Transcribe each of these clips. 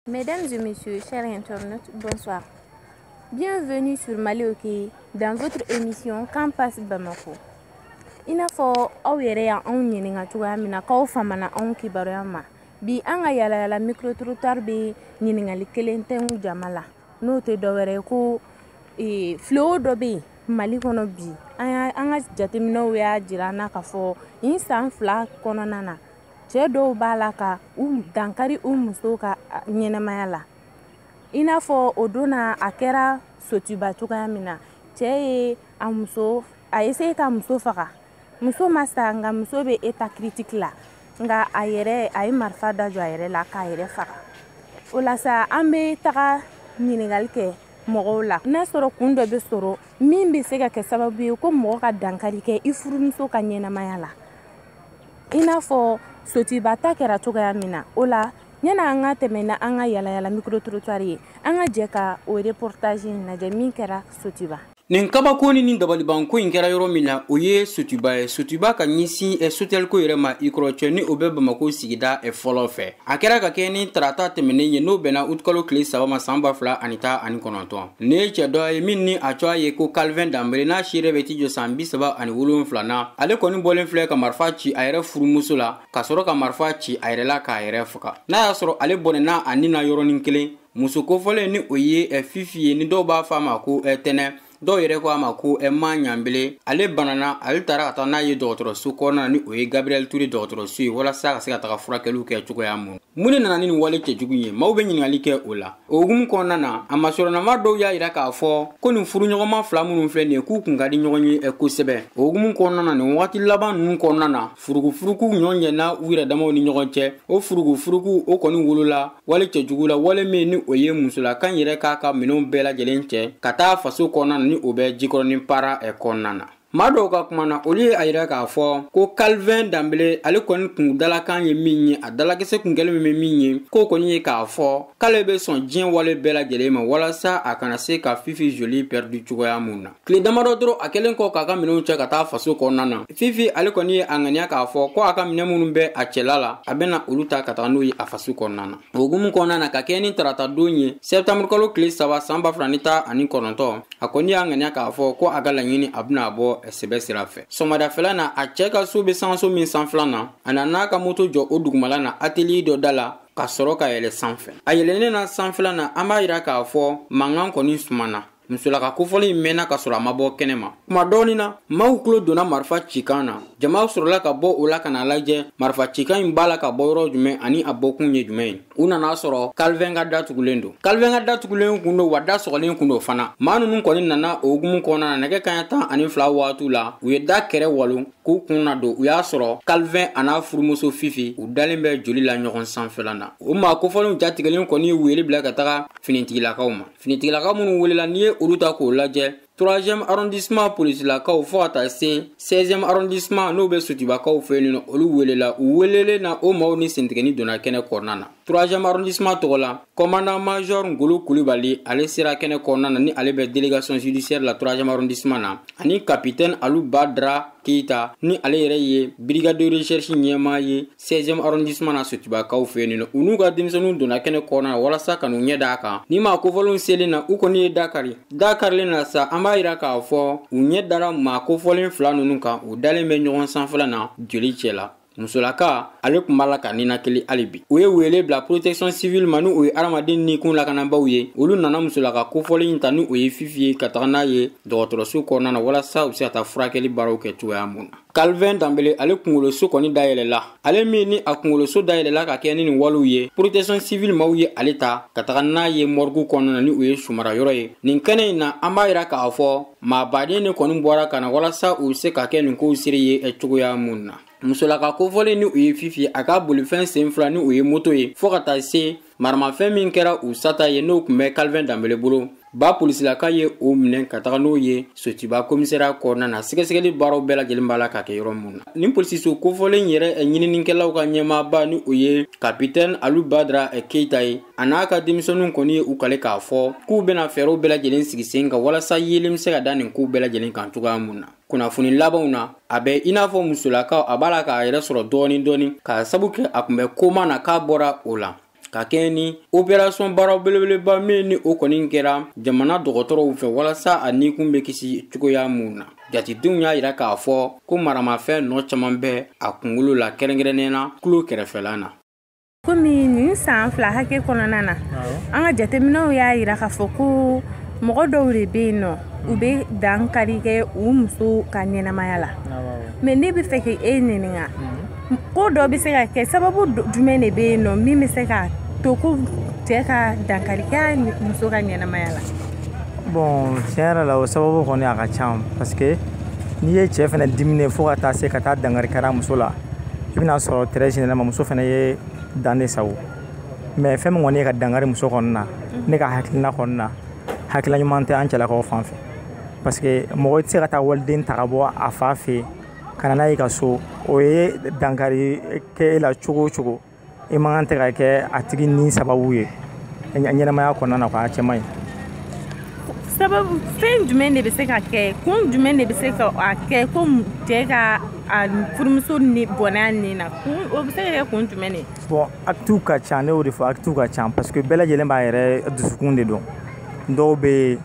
Mesdames et messieurs, chers internautes, bonsoir. Bienvenue sur Malioki dans votre émission Qu'en pense Bamako. I n'a fɔ aw yɛrɛ ya anw ɲininka cogoya min na k'aw famana anw kibaruya ma bi an ka yalayala micro trottoir bɛ ɲininkali kelen tɛngu jama la n'o tɛ dɔwɛrɛ ye ko e, fléau dɔ bɛ yen mali kɔnɔ bi an ka jateminɛw y'a jira an na k'a fɔ nin san fila kɔnɔna na cɛɛ dɔw b'a la ka u dankari u musow ka ɲɛnamaya la i n'a fɔ o don na a kɛra sotuba cogoya min na cɛɛ ye a muso a ye essayer ka muso faga muso ma sa nka muso bɛ état critique la nka a yɛrɛ a ye marifa da jɔ a yɛrɛ la k'a yɛrɛ faga o la sa an bɛ taga ɲininkali kɛ mɔgɔw la n'a sɔrɔ kun dɔ bɛ sɔrɔ min bɛ se ka kɛ sababu ye ko mɔgɔ ka dankari kɛ i furumuso ka ɲɛnamaya la i n'a fɔ sotuba ta kɛra cogoya min na o la yani an ka tɛmɛ n'an ka yalayala microtrottoir ye an ka jɛ ka o reportage in lajɛ min kɛra sotuba nin kabako ni nin dabalibanko in kɛra yɔrɔ min na o ye sotuba ye sotuba ka ɲɛsin eh, sotɛliko yɛrɛ ma i kɔrɔ cɛ ni o bɛ bamako sigida eh, fɔlɔ fɛ a kɛra ka kɛɲɛ ni tarata tɛmɛnen ye n'o bɛnna utukalo tile saba ma saan ba fila ani tan ani kɔnɔntɔn Nin ye cɛ dɔ ye min ni a tɔgɔ ye ko Calvin Danbele n'a si yɛrɛ bɛ t'i jɔ san bi saba ani wolonwula na ale kɔni bɔlen filɛ ka marifa ci a yɛrɛ furumuso la ka sɔrɔ ka marifa ci a yɛrɛ la k'a yɛrɛ faga n'a y'a sɔrɔ ale bɔnɛna a ni na yɔrɔnin kelen muso kofɔlen ni o ye eh, fifi ye ni dɔw b'a fɔ a ma ko eh, tɛnɛ dɔw yɛrɛ ko a ma ko eh, ma ɲanbele ale banana ale tara ka taa n'a ye dɔgɔtɔrɔso kɔnɔna ni o ye gabriel ture dɔgɔtɔrɔso ye walasa ka se ka taga furakɛliw kɛ cogoya min mun de nana ni nin wale cɛjugu ye maaw bɛ ɲininkali kɛ o la o hukumu kɔnɔna na a masurunna maa dɔw y'a yira k'a fɔ ko nin furuɲɔgɔnma fila minnu filɛ nin ye k'u kun ka di ɲɔgɔn ye eh, kosɛbɛ o hukumu kɔnɔna na nin wagati laban ninnu kɔnɔna na furukufuruku ɲɔ ɲɛna u yɛrɛ damaw ni ɲɔgɔn cɛ o furukufuruku o kɔni wolola wale cɛjugu la wale min ni o ye musolaka in yɛrɛ k'a ka minɛnw bɛɛ lajɛlen cɛ ka taa faso kɔnɔna na ni o bɛ jikɔrɔnin para eh, kɔnɔna na maa dɔw ka kuma na olu ye a yira k'a fɔ ko kalvin danbele ale kɔni kun dalakan ye min ye a dalakisɛ kun kɛlen bɛ min ye k'o kɔni ye k'a fɔ k'ale bɛ sɔn diɲɛ wale bɛɛ lajɛlen ma walasa a kana se ka fifi joli pɛridi cogoya min na tile damadɔ dɔrɔn a kɛlen kɔ k'a ka minɛnw cɛ ka taa faso kɔnɔna na fifi ale kɔni ye a ŋaniya k'a fɔ ko a ka minɛn minnu bɛ a cɛla la a bɛna olu ta ka taga n'u ye a faso kɔnɔna na o hukumu kɔnɔna na ka kɛɲɛ ni tarata don ye sɛptanburu kalo tile saba saan ba fila ni tan ani kɔnɔntɔn a kɔni y'a ŋaniya k'a fɔ ko a ka laɲini a bena a bɔ sɛbɛ sira fɛ sɔmadafɛla na a cɛɛ ka so be sangaso min sanfɛla na a nana a ka moto jɔ o dugumala na ateliye dɔ da la ka sɔrɔ ka yɛlɛ sanfɛ a yɛlɛnnen a sanfɛla na an b'a yira k'a fɔ mankan kɔni sumana musolaka kofɔlen in mɛnna ka sɔrɔ a ma bɔ kɛnɛ ma kuma dɔɔni na maaw tulo donna marifa cikan na jamaw sɔrɔla ka bɔ o la ka n'a lajɛ marifa cikan in b'a la ka bɔ yɔrɔ jumɛn ani a bɔkun ye jumɛn ye u nana a sɔrɔ Calvin ka da tugulen don Calvin ka da tugulen kun don wa da sɔgɔlen kun don fana maa ninnu kɔni nana o hukumu kɔnɔna na nɛgɛ kaɲa tan ani fila waatiw la u ye da kɛrɛ walon k'u kun nadon u y'a sɔrɔ Calvin an'a furumuso fifi u dalen bɛ joli la ɲɔgɔn sanfɛla na o maa kofɔlenw jatigɛlen kɔni ye wele bila ka taga finitigilakaw ma finitigilaka minnu welela n'i ye olu ta k'o lajɛ 3e arrondissement polisilakaw fɔɔ ka taa se 16e arrondissement n'o bɛ sotubakaw fɛ yen nɔ olu welela u welelen na o maw ni sentigɛni donna kɛnɛ kɔnɔna na 3e arrondissement tɔgɔ la commandant major ngolo kulibali ale sera kɛnɛ kɔnɔna na ni ale bɛ délégation judiciaire la 3e arrondissement na ani capitaine alu badra keyita ni ale yɛrɛ ye brigade de recherche ɲɛmaa ye 16e arrondissement na sotubakaw fɛ yen nɔ u n'u ka denmisɛnninw donna kɛnɛ kɔnɔna na walasa ka n'u ɲɛ d'a kan nin maa kofɔlenw selen na u kɔni ye da kari da karilen na sa an b'a yira k'a fɔ u ɲɛ dara maa kofɔlen fila ninnu kan u dalen bɛ ɲɔgɔn sanfɛla na joli cɛ la musolaka ale tun b'a la ka ninakili hali bi u ye wele bila protection civile ma ni o ye adamaden nikun lakanabaw ye olu nana musolaka kofɔlen in ta ni o ye fifi ye ka taga n'a ye dɔgɔtɔrɔso kɔnɔna na walasa u bɛ se ka taa furakɛli baaraw kɛ cogoya mun na Calvin Dambele ale kungoloso kɔni dayɛlɛla ale min ni a kungoloso dayɛlɛla ka kɛɲɛ ni nin walew ye protection civil maw ye ale ta ka taga n'a ye mɔrigu kɔnɔna na ni o ye su marayɔrɔ ye nin kɛnɛ in na an b'a yira k'a fɔ maabaden de kɔni bɔra ka na walasa u bɛ se ka kɛ nin kow seere ye eh, cogoya mun na musolaka kofɔlen ni o ye fifi a ka bolifɛn sen fila ni o ye moto ye fɔɔ ka taa se maramafɛn min kɛra u sata ye n'o tun bɛ Calvin Dambele bolo ba polisilaka ye o minɛ ka taga n'o ye sotuba komisariya kɔnɔna na sɛgɛsɛgɛli baaraw bɛɛ lajɛlen b'a la ka kɛ yɔrɔ min na nin polisiso kofɔlen yɛrɛ eh, ɲininikɛlaw ka ɲɛmaaba ni o ye kapitɛni alu badra eh, keyita ye a n'a ka denmisɛnninw kɔni ye u kali k'a fɔ k'u bɛna fɛɛrɛw bɛɛ lajɛlen sigi sen kan walasa yeelen bɛ se ka da nin kow bɛɛ lajɛlen kan cogoya mun na kunnafoni labanw na a bɛ i n'a fɔ musolakaw a b'a la k'a yɛrɛ sɔrɔ dɔɔni dɔɔni k'a sabu kɛ a tun bɛ koma na k'a bɔra o la ka kɛɲɛ ni operasɔn baara belebeleba min ni o kɔni kɛra jamana dɔgɔtɔrɔw fɛ walasa a nikun bɛ kisi cogoya minnu na jatidenw y'a yira k'a fɔ ko maramafɛn nɔ caman bɛ a kunkolo la kɛrɛnkɛrɛnnenya na tulo kɛrɛfɛla na komi nin san fila hakɛ kɔnɔna na an ka jateminɛw y'a yira k'a fɔ ko mɔgɔ dɔw de bɛ yen nɔ u bɛ dankari kɛ u muso ka ɲɛnamaya la mɛ ne b'a fɛ k'e ɲininka mhm. ko dɔ bɛ se ka kɛ sababu jumɛn de bɛ yen nɔ min bɛ se ka to ko cɛ ka dankari kɛ a muso ka ɲɛnamaya la bɔn tiɲɛ yɛrɛ la o sababu kɔni a ka ca parce que n'i ye cɛ fana diminen fo ka taa se ka taa dankari kɛ a muso la i bɛna sɔrɔ très généralement muso fana ye dan de sagon mais fɛn min kɔni ye ka dankari muso kɔni na ne ka hakilina kɔni na hakilina ɲuman tɛ an cɛlakaw fan fɛ parce que mɔgɔ tɛ se ka taa waliden ta ka bɔ a fa fɛ yen ka na n'a ye i ka so o ye dankari kɛ e la cogo o cogo i man kan tɛ ka kɛ a tigi ni sababu ye ɲɛnamaya kɔnɔna na k'a cɛman ye sababu fɛn jumɛn de bɛ se ka kɛ kun jumɛn de bɛ se ka a kɛ ko cɛ ka a furumuso nin bɔnɛ a ni na kun o bɛ se ka kɛ kun jumɛn de bon actew ka ca ne y'o de fɔ actew ka ca parce que bɛɛ lajɛlen b'a yɛrɛ dusukun de dɔn dɔw bɛ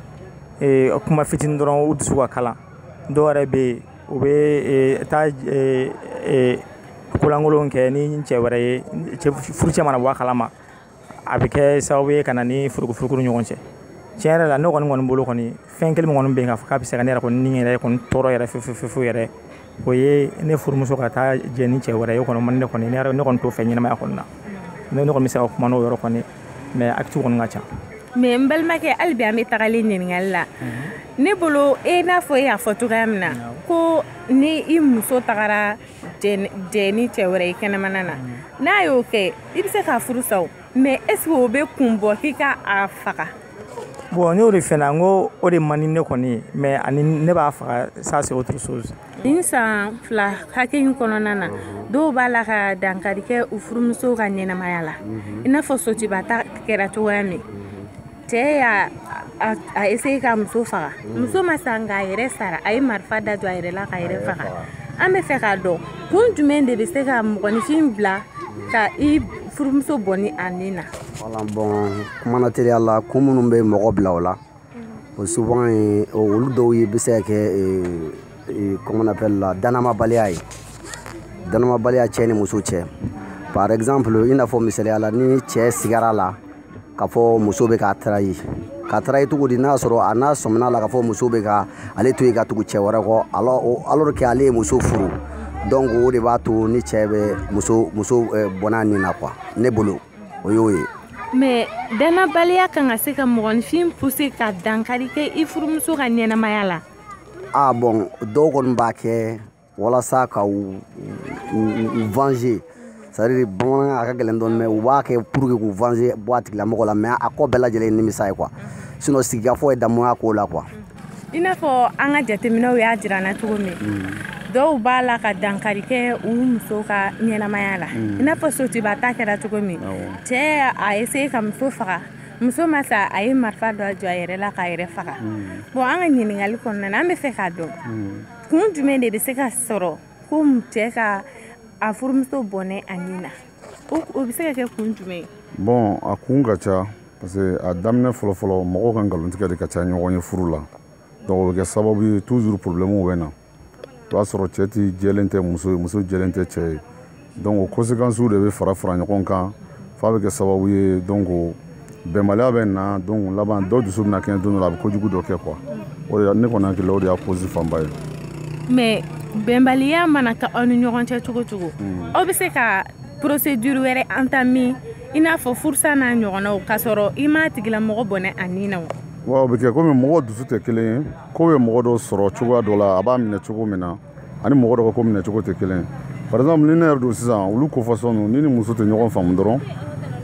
yen kuma fitinin dɔrɔn u dusu ka kalan dɔw yɛrɛ bɛ yen u bɛ eh, taa eh, eh, kolankolon kɛ ni cɛ wɛrɛ ye furucɛ mana bɔ a kalama a bɛ kɛ sababu ye ka na ni furukufuruku ni ɲɔgɔn cɛ tiɲɛ yɛrɛ la ne kɔni kɔni bolo kɔni fɛn kelen kɔni bɛ yen k'a fɔ k'a bɛ se ka ne yɛrɛ kɔni ni yɛrɛ kɔni tɔɔrɔ yɛrɛ fefefefefu yɛrɛ o ye ne furumuso ka taa jɛ ni cɛ wɛrɛ ye o kɔni man ne kɔni ne kɔni t'o fɛ ɲɛnamaya kɔni na ne kɔni bɛ se ka kuma n'o yɔrɔ kɔni mais actew kɔni ka ca mais n balimakɛ hali bi an bɛ tagalen ɲininkali la ne bolo i n'a fɔ e y'a fɔ cogoya min na ko ni i muso tagara jɛ ni cɛ wɛrɛ i kɛnɛmana na n'a y'o kɛ i bɛ se k'a furu sa o mais est-ce que o bɛ kun bɔ k'i ka a faga bon n y'o de fɔ na n ko o de man di ne kɔni ye mais ani ne b'a faga ça c'est autre chose nin san fila hakɛ in kɔnɔna na dɔw b'a la ka dankari kɛ u furumusow ka ɲɛnamaya la i n'a fɔ sotuba ta kɛra cogoya min cɛ y'a essayé ka muso faga muso ma sa nka a yɛrɛ sara a ye marifa da jɔ a yɛrɛ la k'a yɛrɛ faga an bɛ fɛ k'a dɔn kun jumɛn de bɛ se ka mɔgɔninfin bila ka i furumuso bɔnɛ a ni na voilà bon kuma na teliya la kun minnu bɛ mɔgɔ bila o la o souvent ye olu dɔw ye bɛ se ka kɛ comment on appelle la dannayabaliya ye dannayabaliya cɛ ni muso cɛ par exemple i n'a fɔ misaliya la ni cɛ sigara la k'a fɔ muso bɛ k'a trahir k'a trahir cogo di n'a sɔrɔ a n'a sɔmina la k'a fɔ muso bɛ ka ale to yen ka tugu cɛ wɛrɛ kɔ alors que ale ye muso furu donc o de b'a to ni cɛ bɛ muso muso bɔnɛ a ni na quoi ne bolo o y'o ye mais dannabaliya kan ka se ka mɔgɔninfin pousser ka dankari kɛ i furumuso ka ɲɛnamaya la ah bon dɔw kɔni b'a kɛ walasa ka u venger c'est-à-dire bamanankan na a ka gɛlɛn dɔɔni mais u b'a kɛ pour que k'u venger bɔ a tigilamɔgɔ la mais a kɔ bɛɛ lajɛlen ye nimisa ye quoi sinon sigikafɔ ye damu ye ko la quoi i n'a fɔ an ka jateminɛw y'a jira an na cogo min mm. dɔw b'a la ka dankari kɛ u muso ka ɲɛnamaya la mm. i n'a fɔ sotuba ta kɛra cogo min cɛɛ y'a essayer k'a muso faga muso ma sa a ye marifa dɔ jɔ a yɛrɛ la k'a yɛrɛ faga mm. bon an ka ɲininkali kɔnɔna na an bɛ fɛ k'a dɔn kun jumɛn de bɛ se ka sɔrɔ ko cɛɛ ka a furumuso bɔnɛ a ni na o bɛ se ka kɛ kun jumɛn ye bon a kun ka ca parce que a daminɛ fɔlɔfɔlɔ mɔgɔw ka nkalontigɛ de ka ca ɲɔgɔn ye furu la donc o bɛ kɛ sababu ye toujours problème bɛ na o b'a sɔrɔ cɛ ti jɛlen tɛ muso ye muso jɛlen tɛ cɛ ye donc o conséquences de bɛ fara fara ɲɔgɔn kan f'a bɛ kɛ sababu ye donc bɛnbaliya bɛ na donc laban dɔ dusu bɛna kɛɲɛ don dɔ la a bɛ kojugu dɔ kɛ quoi o de ne kɔni hakili la o de y'a cause fanba ye mais bɛnbaliya mana kɛ aw ni ɲɔgɔn cɛ cogo o cogo hmm. aw bɛ se ka procédure wɛrɛ entamer i n'a fɔ furusa n'a ɲɔgɔnnaw k'a sɔrɔ i m'a tigilamɔgɔ bɔnɛ a ni na wa wa o bɛ kɛ komi mɔgɔw dusu tɛ kelen ye ko bɛ mɔgɔ dɔ sɔrɔ cogoya dɔ la a b'a minɛ cogo min na ani mɔgɔ dɔ ka ko minɛ cogo tɛ kelen par exemple ni ne yɛrɛ don sisan olu ko façon ninnu ni i ni muso tɛ ɲɔgɔn faamu dɔrɔn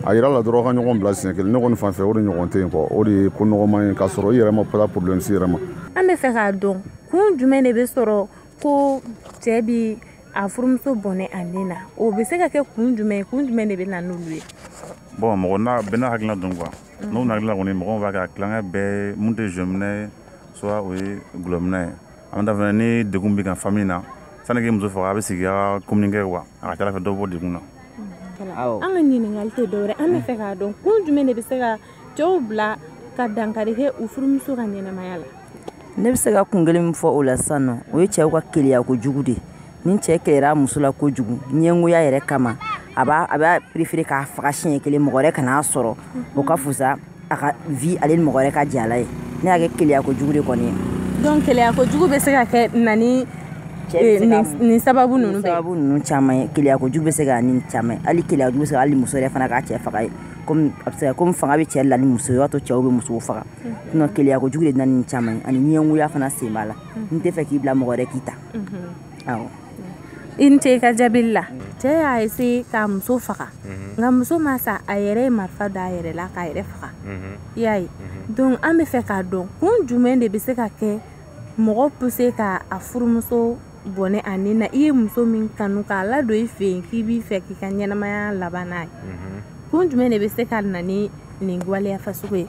a yɔrɔ la dɔrɔn ka ɲɔgɔn bila siɲɛ kelen ne kɔni fan fɛ o de ɲɔgɔn tɛ yen quoi o de ye ko nɔgɔman ye k'a sɔrɔ i yɛrɛ ma taa problème se i yɛrɛ ma an bɛ fɛ k'a dɔn kun jumɛn de bɛ sɔrɔ ko cɛɛ b'a furumuso bɔnɛ a ni na o bɛ se ka kɛ kun jumɛn ye kun jumɛn de bɛ na n'olu ye bon mɔgɔ n'a bɛɛ n'a hakilina don quoi n'o na hakilina kɔni mɔgɔw b'a kɛ a tilancɛ bɛɛ min tɛ jɔminna ye soit o ye dɔlɔminna ye an da fana ni degun b'i kan famille na sani i k'i muso faga a bɛ sigi a communiquer wa a ka c'a la a bɛ dɔ bɔ degun na an ka ɲininkali tɛ dɔwɛrɛ an bɛ fɛ k'a dɔn kun jumɛn de bɛ se ka cɛw bila ka dankari kɛ u furumuso ka ɲɛnamaya la ne bɛ se ka kun kelen min fɔ o la sisan nɔ o ye cɛw ka keleya kojugu de ye ni cɛɛ keleyara muso la kojugu ɲɛngoya yɛrɛ kama a b'a a b'a préféré k'a faga siɲɛ kelen mɔgɔ wɛrɛ kan'a sɔrɔ o ka fusa a ka vie ale ni mɔgɔ wɛrɛ ka jɛ a la ye ne y'a kɛ keleya kojugu de kɔni ye donc keleya kojugu bɛ se ka kɛ na ni eh, nin sababu ninnu bɛɛ sababu ninnu caman ye keleya kojugu bɛ se ka ni caman ye hali keleya kojugu bɛ se ka hali muso yɛrɛ fana k'a cɛ faga ye komi a bɛ se ka komi fanga bɛ cɛ la ni muso ye o b'a to cɛw bɛ musow faga sinon keleya kojugu de bɛ na ni nin caman ye ani ɲɛngoya fana sen b'a la n tɛ fɛ k'i bila mɔgɔ wɛrɛ k'i ta awɔ i ni ce i ka jaabili la cɛ y'a essayer k'a muso faga nka muso ma sa a yɛrɛ ye marifa da a yɛrɛ la k'a yɛrɛ faga i y'a ye donc an bɛ fɛ k'a dɔn kun jumɛn de bɛ se ka kɛ mɔgɔ pousser ka a furumuso bɔnɛ a ni na i ye muso min kanu k'a ladon i fɛ yen k'i b'a fɛ k'i ka ɲɛnamaya laban n'a ye kun jumɛn de bɛ se ka na ni nin waleya fasugu ye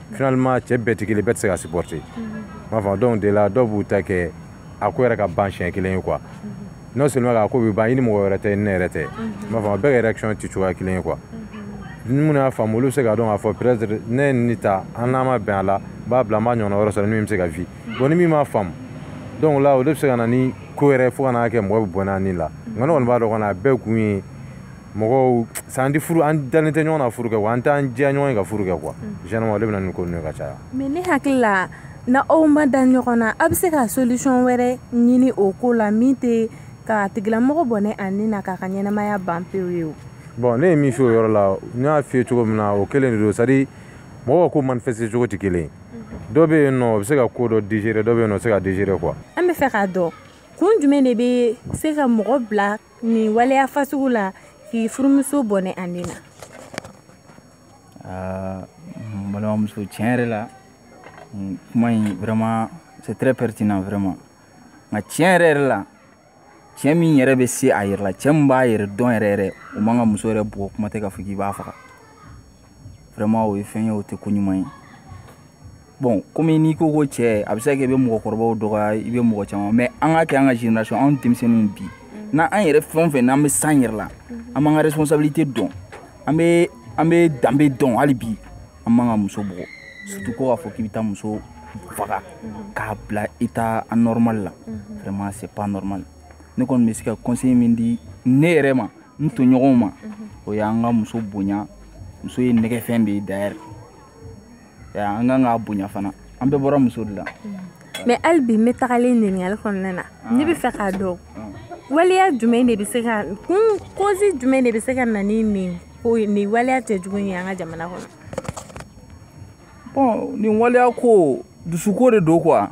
finalement cɛ bɛɛ tɛ kelen bɛɛ tɛ se ka supporter m'a faamu donc de la dɔw b'u ta kɛ a ko yɛrɛ ka ban siɲɛ kelen ye quoi non seulement k'a ko bɛ ban i ni mɔgɔ wɛrɛ tɛ ne yɛrɛ tɛ m'a faamu bɛɛ ka réaction tɛ cogoya kelen ye quoi ni minnu y'a faamu olu bɛ se k'a dɔn k'a fɔ peut être ne ye nin ta an n'an ma bɛn a la n b'a bila n b'a ɲɔgɔnna wɛrɛ sɔrɔ ni min bɛ se ka vi bon ni min m'a faamu donc la o de bɛ se ka na ni ko yɛrɛ fo ka n'a kɛ mɔgɔ bɛ bɔnɛ a ni la nka ne kɔni b'a dɔn kɔni a bɛɛ kun ye mɔgɔw san tɛ furu an dalen tɛ ɲɔgɔn na furu kɛ wa an t'an diya ɲɔgɔn ye ka furu kɛ quoi généralement o de bɛ na ni ko ninnu ye ka caya mais ne hakili la n'aw ma da ɲɔgɔn na aw bɛ se ka solution wɛrɛ ɲini o ko la min tɛ ka tigilamɔgɔ bɔnɛ a ni na k'a ka ɲɛnamaya ban pewu ye o bon ne ye min fɔ o yɔrɔ la n y'a f'i ye cogo min na o kelen de don c'est à dire mɔgɔw ka ko manifester cogo tɛ kelen ye dɔ bɛ yen nɔ o bɛ se ka ko dɔ digérer dɔ bɛ yen nɔ o tɛ se ka digérer quoi an b'a fɛ k'a dɔn kun jumɛn de bɛ se ka mɔgɔ bila nin waleya fasugu la k'i furumuso bɔnɛ a ni na ah, n balimamuso tiɲɛ yɛrɛ la kuma in vraiment c'est très pertinent vraiment nka tiɲɛ yɛrɛ yɛrɛ la cɛ min yɛrɛ bɛ se a yɛrɛ la cɛ min b'a yɛrɛ dɔn yɛrɛ yɛrɛ o man kan ka muso yɛrɛ bugɔ kuma tɛ k'a fɔ k'i b'a faga vraiment o ye fɛn ye o tɛ ko ɲuman ye bon komi n'i ko ko cɛ a bɛ se ka kɛ i bɛ mɔgɔkɔrɔbaw dɔgɔya i bɛ mɔgɔ caman mais an ka kɛ an ka génération anw denmisɛnninw bi n'an an yɛrɛ fɛn o fɛn n'an bɛ se an yɛrɛ la an b'an ka responsabilité dɔn an bɛ an bɛ danbe dɔn hali bi an man kan ka muso bugɔ surtout ko k'a fɔ k'i bɛ taa muso faga k'a bila état anormal la vraiment c'est pas normal ne kɔni bɛ se ka conseil min di ne yɛrɛ ma n tɔɲɔgɔnw ma o y'an ka muso bonya muso ye nɛgɛnfɛn de ye d'ailleurs an kan k'a bonya fana an bɛɛ bɔra muso de la mais hali bi n bɛ tagalen ɲininkali kɔnɔna na ne b'a fɛ k'a dɔn waleya jumɛn de bɛ se ka kun cause jumɛn de bɛ se ka na ni nin ko nin waleya cɛjugu ye an ka jamana kɔnɔ bon nin waleya ko dusuko de don quoi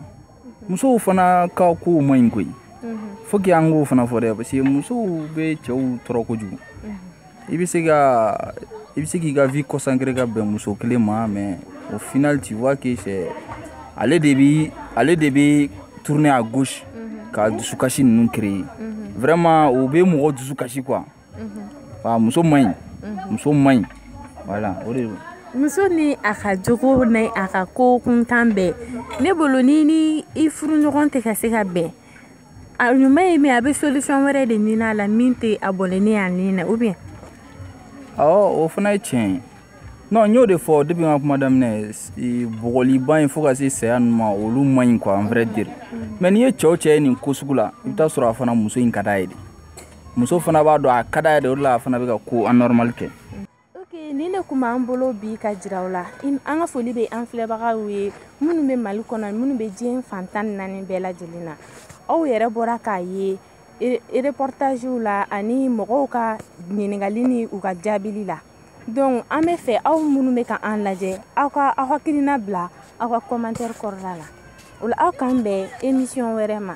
musow fana ka kow man ɲi koyi faut que an k'o fana fɔ dɛ parce que musow bɛ cɛw tɔɔrɔ kojugu i bɛ se ka i bɛ se k'i ka vie consacrer ka bɛn muso kelen ma mais au final tu vois que c'est ale de bɛ ale de bɛ tourner à gauche ka dusukasi ninnu créer vraiment o bɛ mɔgɔ dusu kasi quoi muso man ɲi muso man ɲi voilà o de muso ni a ka jogo ni a ka ko kuntan bɛɛ ne bolo ni ni i furuɲɔgɔn tɛ ka se ka bɛn a ɲuman ye min a bɛ solution wɛrɛ de ɲini a la min tɛ a bɔnɛnen a ni na ou bien. awɔ o fana ye tiɲɛ ye non n y'o de fɔ depuis n ka kuma daminɛ bugɔliba in fo ka se saya ninnu ma olu man ɲi quoi à vrai dire mais n'i ye cɛw cɛ ye nin ko sugu la i bɛ taa sɔrɔ a fana muso in ka da ye dɛ. muso fana b'a dɔn a ka da de o la a fana bɛ ka ko anormal kɛ nin de tun b'an bolo bi ka jira aw la an ka foli bɛ an filɛbagaw ye minnu bɛ mali kɔnɔ minnu bɛ diɲɛ fan tan ni naani bɛɛ lajɛlen na aw yɛrɛ bɔra k'a ye reportagew la ani mɔgɔw ka ɲininkali ni u ka jaabili la donc an b'a fɛ aw minnu bɛ ka an lajɛ aw ka aw hakilina bila aw ka commentaire kɔrɔla la o la aw k'an bɛn émission wɛrɛ ma